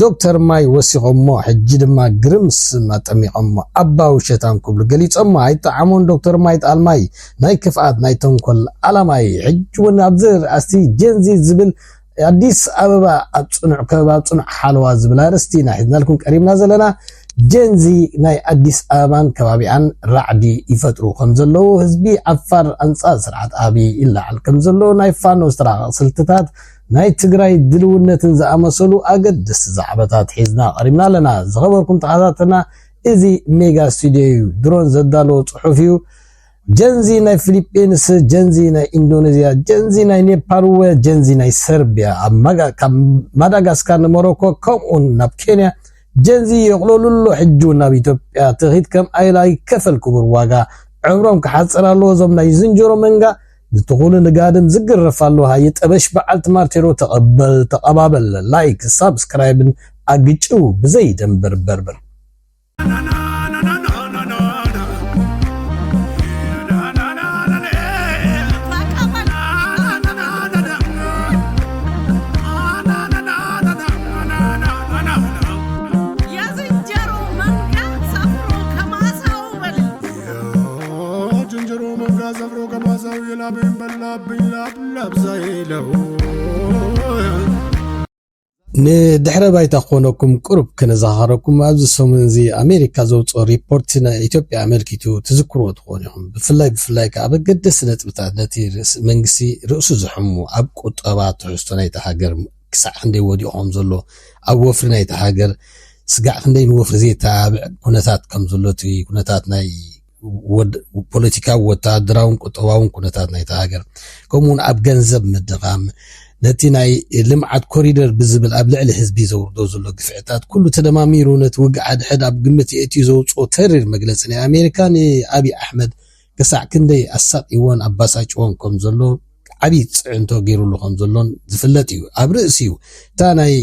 ዶክተር ማይ ወሲኾሞ ሕጂ ድማ ግርም ስም ኣጠሚቆሞ ኣባ ውሸታም ክብሉ ገሊጾሞ ኣይጠዓሞን ዶክተር ማይ ጣልማይ ናይ ክፍኣት ናይ ተንኮል ኣላማይ ሕጂ ውን ኣብዚ ኣስቲ ጀንዚ ዝብል ኣዲስ ኣበባ ኣብ ጽኑዕ ከበባ ኣብ ጽኑዕ ሓለዋ ዝብል ኣርእስቲ ኢና ሒዝናልኩም ቀሪብና ዘለና ጀንዚ ናይ ኣዲስ ኣበባን ከባቢኣን ራዕዲ ይፈጥሩ ከም ዘለዉ ህዝቢ ዓፋር ኣንጻር ስርዓት ኣብይ ይለዓል ከም ዘሎ ናይ ፋኖ ዝተራቐቕ ስልትታት ናይ ትግራይ ድልውነትን ዝኣመሰሉ ኣገደስቲ ዛዕባታት ሒዝና ቀሪብና ኣለና። ዝኸበርኩም ተኸታተልና እዚ ሜጋ ስቱድዮ ዩ። ድሮን ዘዳለዎ ጽሑፍ ዩ። ጀንዚ ናይ ፊሊጲንስ፣ ጀንዚ ናይ ኢንዶኔዝያ፣ ጀንዚ ናይ ኔፓል ወ ጀንዚ ናይ ሰርቢያ ኣብ ማጋ ካብ ማዳጋስካር ንሞሮኮ ከምኡን ናብ ኬንያ ጀንዚ የቕለሉሎ ሕጂ እውን ናብ ኢትዮጵያ ትኺት ከም ኣይላ ይከፈል ክቡር ዋጋ ዕምሮም ክሓጽር ኣለዎ እዞም ናይ ዝንጀሮ መንጋ ንትኹል ንጋድም ዝግረፍ ኣሎ ሃየ ጠበሽ በዓልቲ ማርቴሮ ተቐበል ተቐባበል ላይክ ሳብስክራይብን ኣግጭው ብዘይ ደንበር በርበር። ጅንጀሮ መንጋ ዘብሮ ገማዛው የላበይን በላብኝ ላብላብዛ ይለው ንድሕረ ባይታ ክኾነኩም ቅሩብ ከነዘኻኸረኩም ኣብዚ ሰሙን እዚ ኣሜሪካ ዘውፅኦ ሪፖርት ናይ ኢትዮጵያ ኣመልኪቱ ትዝክርዎ ትኾኑ ኢኹም ብፍላይ ብፍላይ ከዓ በገደሲ ነጥብታት ነቲ መንግስቲ ርእሱ ዝሕሙ ኣብ ቁጠባ ትሕዝቶ ናይቲ ሃገር ክሳዕ ክንደይ ወዲቑ ከም ዘሎ፣ ኣብ ወፍሪ ናይታ ሃገር ስጋዕ ክንደይ ንወፍሪ ዜተባብዕ ኩነታት ከም ዘሎ፣ እቲ ኩነታት ናይ ፖለቲካዊ፣ ወተሃደራውን ቁጠባውን ኩነታት ናይታ ሃገር፣ ከምኡውን ኣብ ገንዘብ ምድኻም፣ ነቲ ናይ ልምዓት ኮሪደር ብዝብል ኣብ ልዕሊ ህዝቢ ዘውርዶ ዘሎ ግፍዕታት ኩሉ ተደማሚሩ ነቲ ውግእ ሓድሕድ ኣብ ግምት የእትዩ ዘውጽኦ ተሪር መግለጺ ናይ ኣሜሪካ ንኣብይ ኣሕመድ ክሳዕ ክንደይ ኣሳቕይዎን ኣባሳጭዎን ከም ዘሎ ዓቢ ጽዕንቶ ጌሩሉ ከም ዘሎን ዝፍለጥ እዩ። ኣብ ርእሲኡ እታ ናይ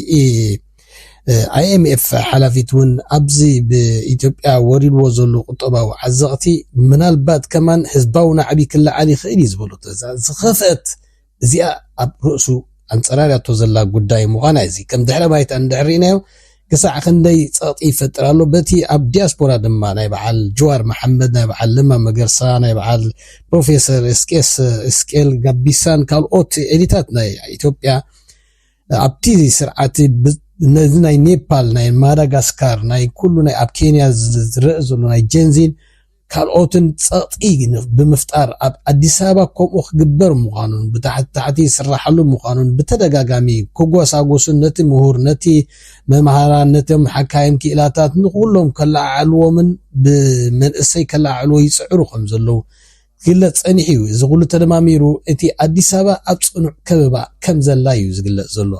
IMF ሓላፊት ውን ኣብዚ ብኢትዮጵያ ወሪድዎ ዘሎ ቁጠባዊ ዓዘቕቲ ምናልባት ከማን ህዝባዊ ናዕቢ ክለዓል ይኽእል እዩ ዝበለቶ እዛ ዝኸፍአት እዚኣ ኣብ ርእሱ ኣንጸላልያቶ ዘላ ጉዳይ ምዃና እዚ ከም ድሕረ ባይታ እንድሕር ርኢናዮ ክሳዕ ክንደይ ጸቕጢ ይፈጥር ኣሎ። በቲ ኣብ ዲያስፖራ ድማ ናይ በዓል ጅዋር መሓመድ፣ ናይ በዓል ለማ መገርሳ፣ ናይ በዓል ፕሮፌሰር ኤስቄስ እስቄል ጋቢሳን ካልኦት ኤሊታት ናይ ኢትዮጵያ ኣብቲ ስርዓት ነዚ ናይ ኔፓል ናይ ማዳጋስካር ናይ ኩሉ ናይ ኣብ ኬንያ ዝረአ ዘሎ ናይ ጀንዚን ካልኦትን ፀቕጢ ብምፍጣር ኣብ ኣዲስ ኣበባ ከምኡ ክግበር ምዃኑን ብታሕቲ ታሕቲ ይስራሓሉ ምዃኑን ብተደጋጋሚ ክጎሳጎሱን ነቲ ምሁር ነቲ መምሃራን ነቶም ሓካይም ክኢላታት ንኹሎም ከለዓዕልዎምን ብመንእሰይ ከለዓዕልዎ ይፅዕሩ ከም ዘለዉ ዝግለፅ ፀኒሑ እዩ። እዚ ኩሉ ተደማሚሩ እቲ ኣዲስ ኣበባ ኣብ ፅኑዕ ከበባ ከም ዘላ እዩ ዝግለፅ ዘሎ።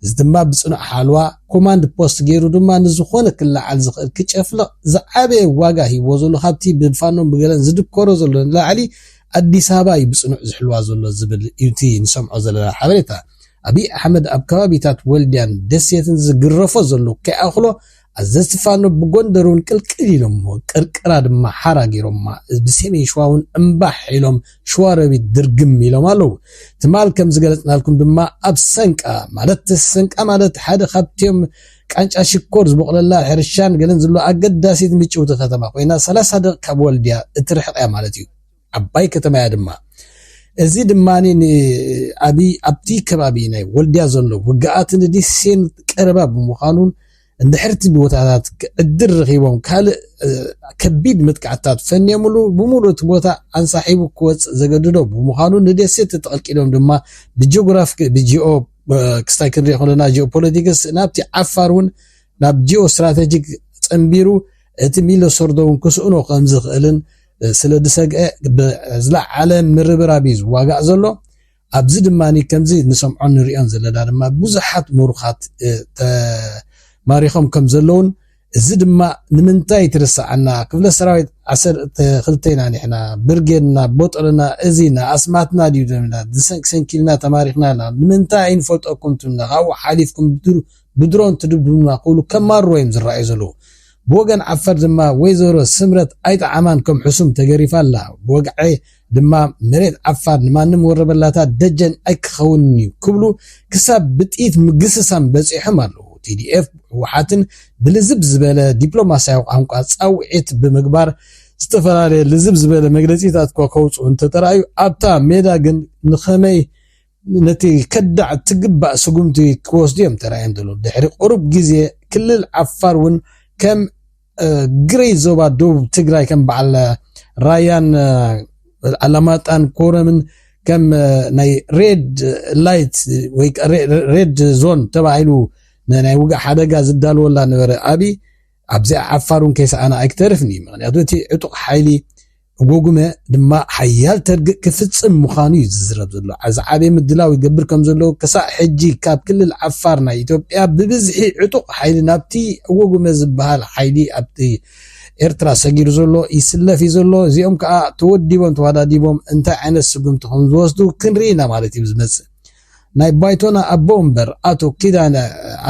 እዚ ድማ ብጽኑዕ ሓልዋ ኮማንድ ፖስት ገይሩ ድማ ንዝኾነ ክለዓል ዝኽእል ክጨፍልቕ ዝዓበየ ዋጋ ሂብዎ ዘሎ ካብቲ ብፋኖን ብገለን ዝድኮሮ ዘሎ ንላዕሊ ኣዲስ ኣበባ እዩ ብጽኑዕ ዝሕልዋ ዘሎ ዝብል እዩ እቲ ንሰምዖ ዘለና ሓበሬታ። ኣብይ ኣሕመድ ኣብ ከባቢታት ወልድያን ደሴትን ዝግረፎ ዘሎ ከይኣኽሎ ኣዘዝቲ ፋኖ ብጎንደር እውን ቅልቅል ኢሎሞ ቅርቅራ ድማ ሓራ ገይሮማ ብሰሜን ሽዋ እውን እምባሕ ኢሎም ሽዋሮቢት ድርግም ኢሎም ኣለው ትማል ከም ዝገለፅናልኩም ድማ ኣብ ሰንቃ ማለት ሰንቃ ማለት ሓደ ካብትዮም ቃንጫ ሽኮር ዝቦቕለላ ሕርሻን ገለን ዘሎ ኣገዳሲት ምጭውቲ ከተማ ኮይና ሰላሳ ደቕ ካብ ወልድያ እትርሕቕ እያ ማለት እዩ ዓባይ ከተማ እያ ድማ። እዚ ድማ ንኣብይ ኣብቲ ከባቢ ናይ ወልድያ ዘሎ ውግኣት ንዲሴን ቀረባ ብምዃኑን እንድሕር እቲ ቦታታት ዕድል ረኺቦም ካልእ ከቢድ መጥቃዕትታት ፈንዮምሉ ብምሉእ እቲ ቦታ ኣንሳሒቡ ክወፅእ ዘገድዶ ብምዃኑ ንደሴ ተጠቕልቂሎም ድማ ብጂኦግራፊ ብጂኦ ክስታይ ክንሪኦ ከለና ጂኦፖለቲክስ ናብቲ ዓፋር እውን ናብ ጂኦ ስትራቴጂክ ጸንቢሩ እቲ ሚለሶርዶ እውን ክስእኖ ከም ዝኽእልን ስለ ዝሰግኤ ብዝለዓለ ምርብራብ እዩ ዝዋጋእ ዘሎ። ኣብዚ ድማ ከምዚ ንሰምዖን ንርእዮን ዘለና ድማ ብዙሓት ምሩኻት ተማሪኾም ከም ዘለዉን እዚ ድማ ንምንታይ ትርሰዓና ክፍለ ሰራዊት ዓሰርተ ክልተ ኢና ንሕና ብርጌድና ቦጥርና እዚ ኢና ኣስማትና ድዩ ደምና ሰንኪልና ተማሪኽና ኣለና ንምንታይ ኣይንፈልጠኩም ትብልና ካብኡ ሓሊፍኩም ብድሮን ትድብዱና ክብሉ ከማርሩ እዮም ዝረኣዩ ዘለዉ ብወገን ዓፋር ድማ ወይዘሮ ስምረት ኣይጠዓማን ከም ሕሱም ተገሪፋ ኣላ። ብወግዒ ድማ መሬት ዓፋር ንማንም ወረበላታት ደጀን ኣይክኸውንን'ዩ ክብሉ ክሳብ ብጥይት ምግስሳም በጺሖም ኣለዉ። TDF ህወሓትን ብልዝብ ዝበለ ዲፕሎማስያዊ ቋንቋ ጻውዒት ብምግባር ዝተፈላለየ ልዝብ ዝበለ መግለጺታት'ኳ ከውጽኡ እንተተራእዩ ኣብታ ሜዳ ግን ንኸመይ ነቲ ከዳዕ ትግባእ ስጉምቲ ክወስዱ እዮም ተራእዮም ዘለዉ። ድሕሪ ቁሩብ ግዜ ክልል ዓፋር እውን ከም ግረይ ዞባ ደቡብ ትግራይ ከም በዓል ራያን ኣላማጣን ኮረምን ከም ናይ ሬድ ላይት ወይ ሬድ ዞን ተባሂሉ ንናይ ውግእ ሓደጋ ዝዳልወላ ነበረ ኣብይ ኣብዚኣ ዓፋር እውን ከይሰኣና ኣይክተርፍን እዩ ምክንያቱ እቲ ዕጡቕ ሓይሊ ጎጉመ ድማ ሓያል ተርግእ ክፍጽም ምዃኑ እዩ ዝዝረብ ዘሎ። ዝዓበየ ምድላው ይገብር ከም ዘሎ ክሳዕ ሕጂ ካብ ክልል ዓፋር ናይ ኢትዮጵያ ብብዝሒ ዕጡቕ ሓይሊ ናብቲ ጎጉመ ዝበሃል ሓይሊ ኣብቲ ኤርትራ ሰጊሩ ዘሎ ይስለፍ እዩ ዘሎ። እዚኦም ከኣ ተወዲቦም ተዋዳዲቦም እንታይ ዓይነት ስጉምቲ ከም ዝወስዱ ክንርኢ ኢና ማለት እዩ ዝመጽእ። ናይ ባይቶና ኣቦ ወንበር ኣቶ ኪዳነ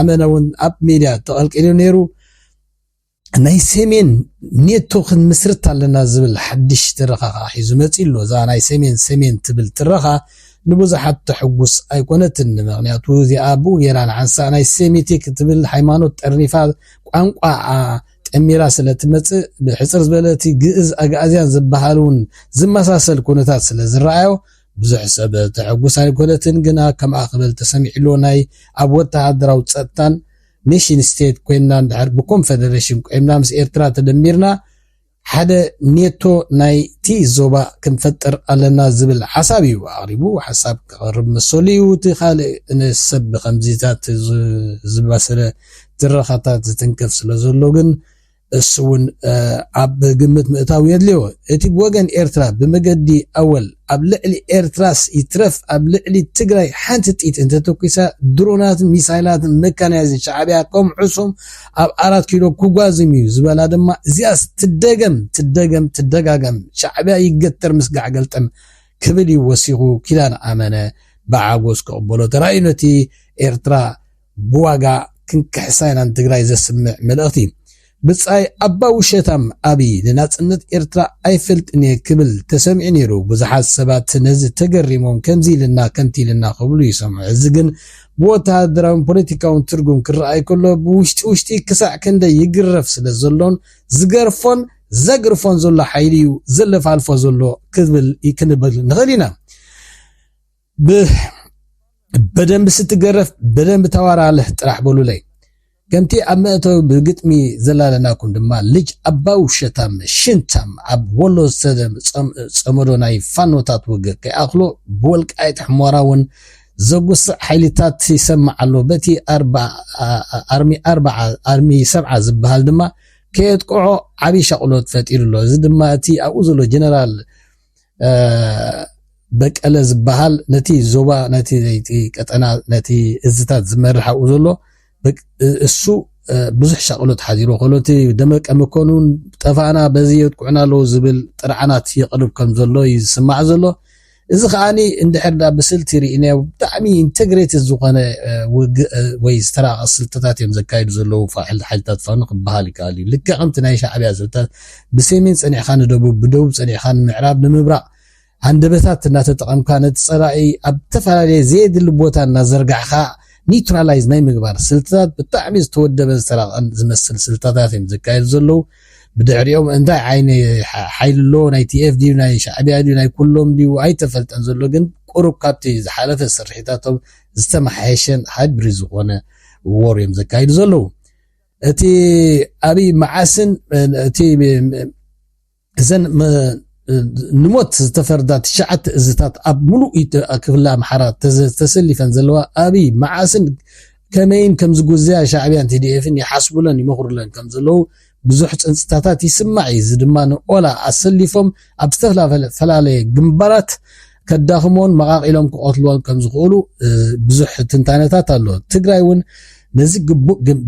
ኣመነ እውን ኣብ ሚድያ ተቐልቂሉ ነይሩ። ናይ ሰሜን ኔቶ ክንምስርት ኣለና ዝብል ሓድሽ ትረኻ ከዓ ሒዙ መፂኡ ኣሎ። እዛ ናይ ሰሜን ሰሜን ትብል ትረኻ ንብዙሓት ተሕጉስ ኣይኮነትን። ምክንያቱ እዚኣ ብኡ ገይራ ንሓንሳእ ናይ ሴሚቲክ ትብል ሃይማኖት ጠርኒፋ ቋንቋ ጠሚራ ስለ ትመፅእ ብሕፅር ዝበለ እቲ ግእዝ ኣግኣዝያን ዝበሃል እውን ዝመሳሰል ኩነታት ስለ ዝረኣዮ ብዙሕ ሰብ ተሕጉስ ኣይኮነትን። ግና ከምኣ ክብል ተሰሚዑ ኣሎ ናይ ኣብ ወተሃደራዊ ፀጥታን ኔሽን ስቴት ኮይንና እንድሕር ብኮንፈደረሽን ቆይምና ምስ ኤርትራ ተደሚርና ሓደ ኔቶ ናይቲ ዞባ ክንፈጥር ኣለና ዝብል ሓሳብ እዩ ኣቕሪቡ። ሓሳብ ከቕርብ መሰሉ እዩ። እቲ ካልእ ሰብ ብኸምዚታት ዝባሰለ ትረኻታት ዝትንከፍ ስለዘሎ ግን እሱ እውን ኣብ ግምት ምእታው የድልዮ። እቲ ብወገን ኤርትራ ብመገዲ ኣወል ኣብ ልዕሊ ኤርትራስ ይትረፍ ኣብ ልዕሊ ትግራይ ሓንቲ ጥይት እንተተኩሳ ድሮናትን ሚሳይላትን መካናይዝን ሻዕብያ ከምዕሶም ኣብ ኣራት ኪሎ ክጓዝም እዩ ዝበላ ድማ እዚኣስ ትደገም ትደገም ትደጋገም ሻዕብያ ይገተር ምስ ጋዕገልጠም ክብል እዩ ወሲኹ ኪዳነ ኣመነ ብዓጎስ ክቕበሎ ተራእዩ ነቲ ኤርትራ ብዋጋ ክንክሕሳ ኢና ንትግራይ ዘስምዕ መልእኽቲ። ብጻይ ኣባ ውሸታም ኣብይ ንናጽነት ኤርትራ ኣይፈልጥን እየ ክብል ተሰሚዑ ነይሩ ብዙሓት ሰባት ነዚ ተገሪሞም ከምዚ ኢልና ከምቲ ኢልና ክብሉ ይሰምዑ እዚ ግን ብወተሃደራውን ፖለቲካውን ትርጉም ክረኣይ ከሎ ብውሽጢ ውሽጢ ክሳዕ ክንደይ ይግረፍ ስለ ዘሎን ዝገርፎን ዘግርፎን ዘሎ ሓይሊ እዩ ዘለፋልፎ ዘሎ ክብል ክንብል ንኽእል ኢና በደንብ ስትገረፍ በደንብ ተዋራልህ ጥራሕ በሉለይ። ከምቲ ኣብ መእተዊ ብግጥሚ ዘላለናኩም ድማ ልጅ ኣባው ሸታም ሽንታም ኣብ ወሎ ዝተጸመዶ ናይ ፋኖታት ውግ ከይኣኽሎ ብወልቃይት ሕሞራ እውን ዘጉስዕ ሓይልታት ይሰምዕ ኣሎ። በቲ ኣርሚ ኣርባዓ ኣርሚ ሰብዓ ዝበሃል ድማ ከየጥቅዖ ዓብዪ ሻቕሎት ፈጢሩ ኣሎ። እዚ ድማ እቲ ኣብኡ ዘሎ ጀነራል በቀለ ዝበሃል ነቲ ዞባ ነቲ ቀጠና ነቲ እዝታት ዝመርሕ ኣብኡ ዘሎ እሱ ብዙሕ ሻቕሎት ሓዚሩ ከሎ እቲ ደመቀ መኮንን ጠፋእና በዚ የጥቅዑና ኣለዉ ዝብል ጥርዓናት የቕርብ ከም ዘሎ እዩ ዝስማዕ ዘሎ እዚ ከዓኒ እንድሕር ዳ ብስልቲ ርኢናዮ ብጣዕሚ ኢንቴግሬት ዝኾነ ውግእ ወይ ዝተራቐ ስልትታት እዮም ዘካይዱ ዘለዉ ሓይልታት ፋኖ ክበሃል ይከኣል እዩ ልክዕ ከምቲ ናይ ሻዕብያ ስልታት ብሰሜን ጸኒዕካ ንደቡብ፣ ብደቡብ ጸኒዕካ ንምዕራብ፣ ንምብራቕ፣ ሃንደበታት እናተጠቐምካ ነቲ ጸላኢ ኣብ እተፈላለየ ዘየድሊ ቦታ እናዘርጋሕካ ኒውትራላይዝ ናይ ምግባር ስልትታት ብጣዕሚ ዝተወደበን ዝተራቐቐን ዝመስል ስልታታት እዮም ዘካየዱ ዘለዉ። ብድሕሪኦም እንታይ ዓይነ ሓይሊ ኣሎ ናይ ቲኤፍ ድዩ ናይ ሻዕቢያ ድዩ ናይ ኩሎም ድዩ ኣይተፈልጠን ዘሎ ግን ቁሩብ ካብቲ ዝሓለፈ ስርሒታቶም ዝተመሓየሸን ሃይብሪድ ዝኾነ ወር እዮም ዘካይዱ ዘለዉ። እቲ ኣብይ መዓስን እቲ እዘን ንሞት ዝተፈርዳ ትሽዓተ እዝታት ኣብ ሙሉእ ክፍለ ኣምሓራ ተሰሊፈን ዘለዋ ኣብይ መዓስን ከመይን ከም ዝጉዘያ ሻዕብያን ቲዲኤፍን ይሓስቡለን ይመኽሩለን ከም ዘለዉ ብዙሕ ፅንፅታታት ይስማዕ እዩ። እዚ ድማ ንኦላ ኣሰሊፎም ኣብ ዝተፈላለየ ግንባራት ከዳኽሞን መቓቒሎም ክቐትልዎን ከም ዝኽእሉ ብዙሕ ትንታነታት ኣሎ። ትግራይ እውን ነዚ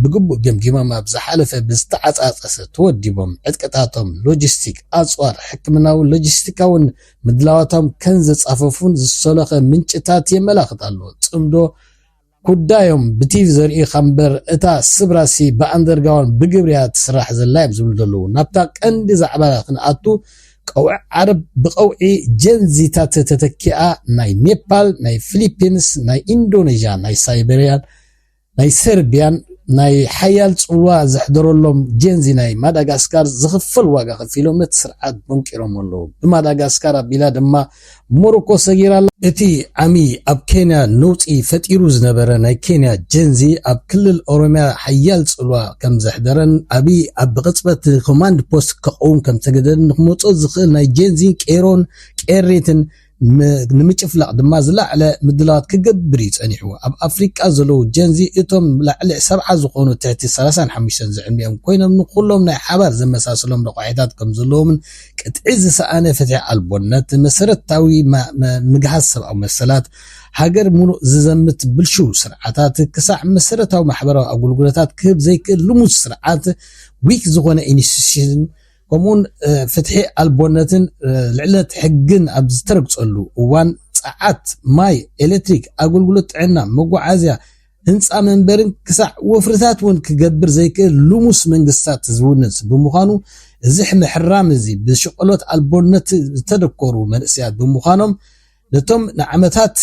ብግቡእ ገምጊሞም ኣብ ዝሓለፈ ብዝተዓጻጸሰ ተወዲቦም ዕጥቅታቶም፣ ሎጂስቲክ፣ ኣጽዋር፣ ሕክምናዊ ሎጂስቲካውን ምድላዋቶም ከም ዘጻፈፉን ዝሰሎኸ ምንጭታት የመላኽት ኣሎ። ጽምዶ ጉዳዮም ብቲቪ ዘርእዩኻ እምበር እታ ስብራሲ ብኣንደርጋውንድ ብግብሪ እያ ትስራሕ ዘላ እዮም ዝብሉ ዘለዉ። ናብታ ቀንዲ ዛዕባና ክንኣቱ፣ ቀውዒ ዓረብ ብቐውዒ ጀንዚታት ተተኪኣ ናይ ኔፓል፣ ናይ ፊሊፒንስ፣ ናይ ኢንዶነዥያ፣ ናይ ሳይበርያን ናይ ሰርብያን ናይ ሓያል ጽልዋ ዘሕደረሎም ጀንዚ ናይ ማዳጋስካር ዝኽፈል ዋጋ ከፊሎም ነቲ ስርዓት ቦንቂሮሞ ኣለዉ። ብማዳጋስካር ኣቢላ ድማ ሞሮኮ ሰጊራ ኣላ። እቲ ዓሚ ኣብ ኬንያ ነውጺ ፈጢሩ ዝነበረ ናይ ኬንያ ጀንዚ ኣብ ክልል ኦሮምያ ሓያል ጽልዋ ከም ዘሕደረን ኣቢይ ኣብ ብቕጽበት ንኮማንድ ፖስት ከቐውም ከም ዝተገደደን ንክመጾ ዝኽእል ናይ ጀንዚን ቄሮን ቄሪትን ንምጭፍላቕ ድማ ዝለዓለ ምድላዋት ክገብር እዩ ጸኒሑ። ኣብ ኣፍሪቃ ዘለዉ ጀንዚ እቶም ላዕሊ ሰብዓ ዝኾኑ ትሕቲ ሰላሳን ሓሙሽተን ዝዕድሚኦም ኮይኖም ንኹሎም ናይ ሓባር ዘመሳስሎም ረቋሒታት ከም ዘለዎምን ቅጥዒ ዝሰኣነ ፍትሒ ኣልቦነት፣ መሰረታዊ ምግሃስ ሰብኣዊ መሰላት፣ ሃገር ምሉእ ዝዘምት ብልሽው ስርዓታት፣ ክሳዕ መሰረታዊ ማሕበራዊ ኣገልግሎታት ክህብ ዘይክእል ልሙስ ስርዓት፣ ዊክ ዝኾነ ኢንስቲትዩሽን፣ ከምኡውን ፍትሒ ኣልቦነትን ልዕለት ሕግን ኣብ ዝተረግጸሉ እዋን ጸዓት፣ ማይ፣ ኤሌክትሪክ፣ ኣገልግሎት ጥዕና፣ መጓዓዝያ፣ ህንጻ መንበርን ክሳዕ ወፍርታት እውን ክገብር ዘይክእል ልሙስ መንግስታት ዝውንስ ብምዃኑ፣ እዚ ምሕራም እዚ ብሽቐሎት ኣልቦነት ዝተደኮሩ መንእሰያት ብምዃኖም ነቶም ንዓመታት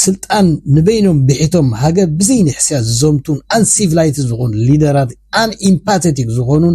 ስልጣን ንበይኖም ብሒቶም ሃገር ብዘይንሕስያ ዝዘምቱን ኣን ሲቭላይትድ ዝኾኑ ሊደራት ኣን ኢምፓተቲክ ዝኾኑን